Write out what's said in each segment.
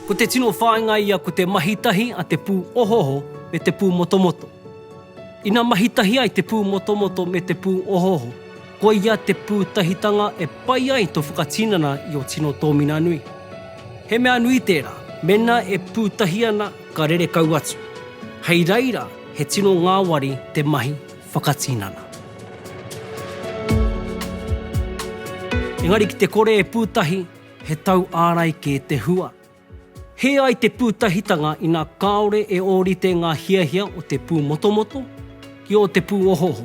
Ko te tino whāinga ia ko te mahi tahi a te pū ohoho me te pū motomoto. Ina mahi tahi ai te pū motomoto me te pū ohoho, koia te pūtahitanga e pai ai tō whakatinana i ō tino tōmina nui. He mea nui tērā, mēnā e pūtahi ana, Ka rere kau atu. Hei reira he tino ngāwari te mahi whakatinana. Engari ki te kore e pūtahi he tau ārai kē te hua. Hē ai te pūtahitanga ina kāore e ōrite ngā hiahia o te pūmotomoto ki ō te pūohooho.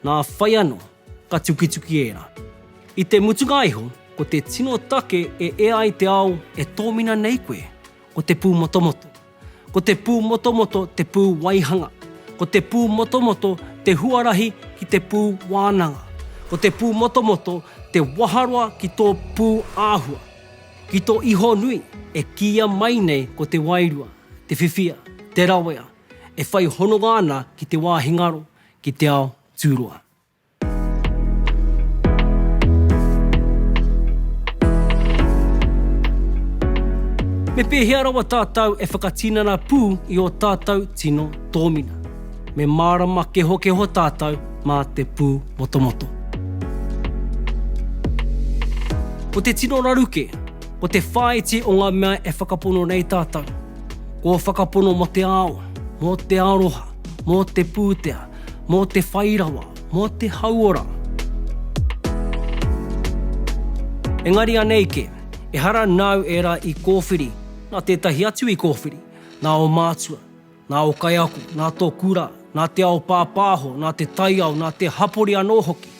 Nā whai anō, ka tukituki ērā. I te mutunga iho, ko te tino take e ea ai te ao e tōmina nei koe, ko te pūmotomoto. Ko te pūmotomoto te pū waihanga. Ko te pūmotomoto te huarahi ki te pū wānanga. Ko te pūmotomoto te waharoa ki tō pū āhua. Ki tō iho nui, e kīia mai nei ko te wairua, te whiwhia, te rawea, e whai hononga ana ki te wāhi ngaro, ki te ao tūroa. Me pēhea rawa tātou e whakatinana pū i ō tātou tino tōmina? Me mārama kehokeho tātou mā te pū motomoto. Ko te tino raru kē, ko te whāiti o ngā mea e whakapono nei tātou. Ko whakapono mō te ao, mō te aroha, Mō te pūtea, mō te whai rawa, mō te hauora. Engari anei kē, ehara nāu ērā i kōwhiri, nā tētahi atu i kōwhiri, nā ō mātua, nā ō kaiako, nā tō kura, nā te ao pāpāho, nā te taiao, nā te hapori anō hoki.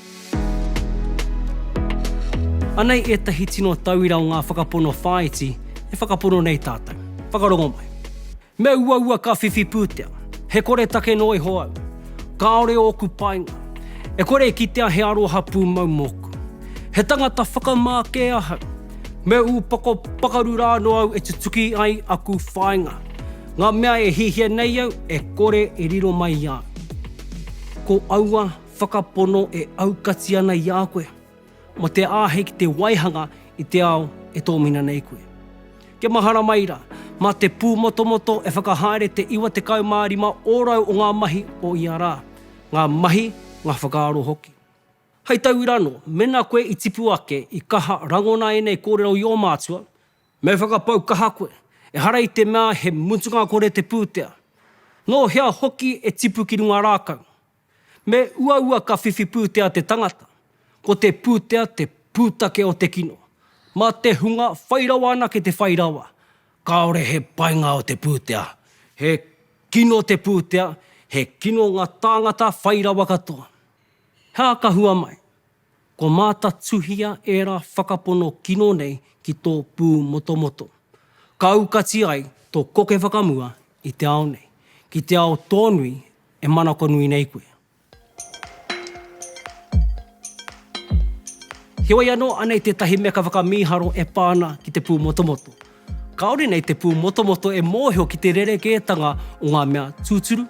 Anei ētahi tino tauira o ngā whakapono whāiti e whakapono nei tātou. Whakarongo mai. Me uaua ka whiwhi pūtea. He koretake noa iho au. Kāore ōku painga. E kore e kitea he aroha pūmau mōku. He tangata whakamā kē ahau. Me ūpoko pakaru rā anō au e tutuki ai aku whāinga. Ngā mea e hiahia nei au e kore e riro mai i a au. Ko aua whakapono e aukati ana i a koe. Mō te āhei ki te waihanga i te ao e tōmina nei koe. Kia mahara mai rā, mā te pūmotomoto e whakahaere te 95 ōrau o ngā mahi o ia rā, ngā mahi, ngā whakaaro hoki. Hei tauira anō, mēnā koe i tipu ake, i kaha rangona ēnei kōrero i ō mātua, me whakapau kaha koe, ehara i te mea he mutunga kore te pūtea. Nō hea hoki e tipu ki runga rākau? Me uaua ka whiwhi pūtea te tangata, ko te pūtea te pūtake o te kino. Mā te hunga whai rawa anake te whai rawa, kāore he painga o te pūtea. He kino te pūtea, he kino ngā tāngata whai rawa katoa. He aha ka hua mai? Kua mātatuhia ērā whakapono kino nei ki tō pūmotomoto. Ka aukati ai tō koke whakamua i te ao nei, ki te ao tōnui e manakonui nei koe. Heoi anō, anei tētahi meka whakamīharo e pā ana ki te pūmotomoto. Kāore nei te pūmotomoto e mōhio ki te rerekētanga o ngā mea tūturu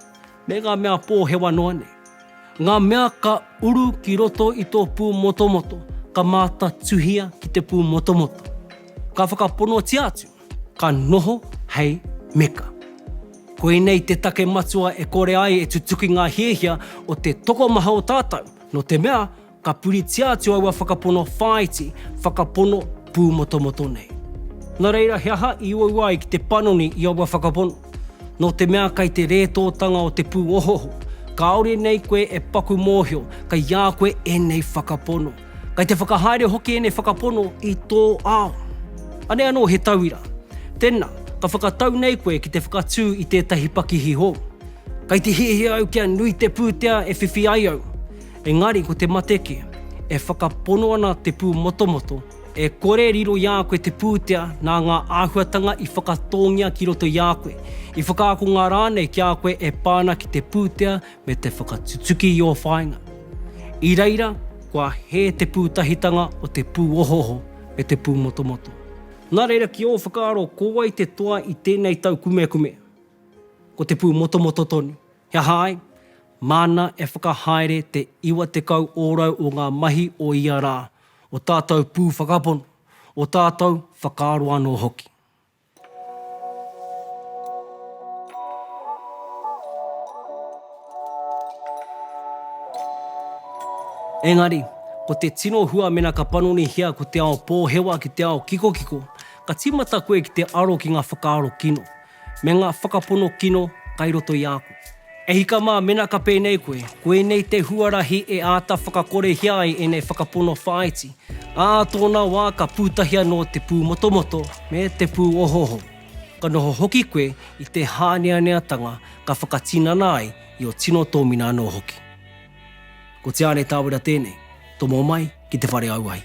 me ngā mea pōhewa noa nei. Ngā mea ka uru ki roto i tō pūmotomoto ka mātatuhia ki te pūmotomoto. Ka whakaponotia atu, ka noho hei meka. Koinei te take matua e kore ai e tutuki ngā hiahia o te tokomaha o tātou, nō te mea, ka puritia atu aua whakapono whāiti, whakapono pūmotomoto nei. Nā reira, he aha i uaua ai ki te panoni i aua whakapono? Nō te mea kei te rētōtanga o te pūohooho, kāore nei koe e paku mōhio kei a koe ēnei whakapono. Kei te whakahaere hoki ēnei whakapono i tō ao. Anei anō he tauira. Tēnā, ka whakatau nei koe ki te whakatū i tētahi pakihi hou. Kei te hiahia au kia nui te pūtea e whiwhi ai au. Engari ko te mate kē. E whakapono ana te pūmotomoto, e kore riro i a koe te pūtea nā ngā āhuatanga i whakatōngia ki roto i a koe, i whakaakonga rānei ki a koe e pā ana ki te pūtea me te whakatutuki i ō whāinga. I reira, kua hē te pūtahitanga o te pūohooho me te pūmotomoto. Nā reira, ki ō whakaaro, ko wai te toa i tēnei taukumekume? Ko te pūmotomoto tonu. He aha ai? Māna e whakahaere te 90 ōrau o ngā mahi o ia rā, o tātou pū whakapono, o tātou whakaaro anō hoki. Engari, ko te tino hua mena ka panonihia ko te ao pōhewa ki te ao kikokiko, ka tīmata koe ki te aro ki ngā whakaaro kino. me ngā whakapono kino kai roto i a koe. E hika mā, mena ka pēnei koe, koinei te huarahi e āta whakakorehia ai ēnei whakapono whāiti, ā tōna wā ka pūtahi anō te pūmotomoto me te pūohooho. Ka noho hoki koe i te hāneaneatanga ka whakatinana ai i ō tino tōmina anō hoki. Ko Te Āne Tāwera tēnei, tomo mai ki te whare auahi.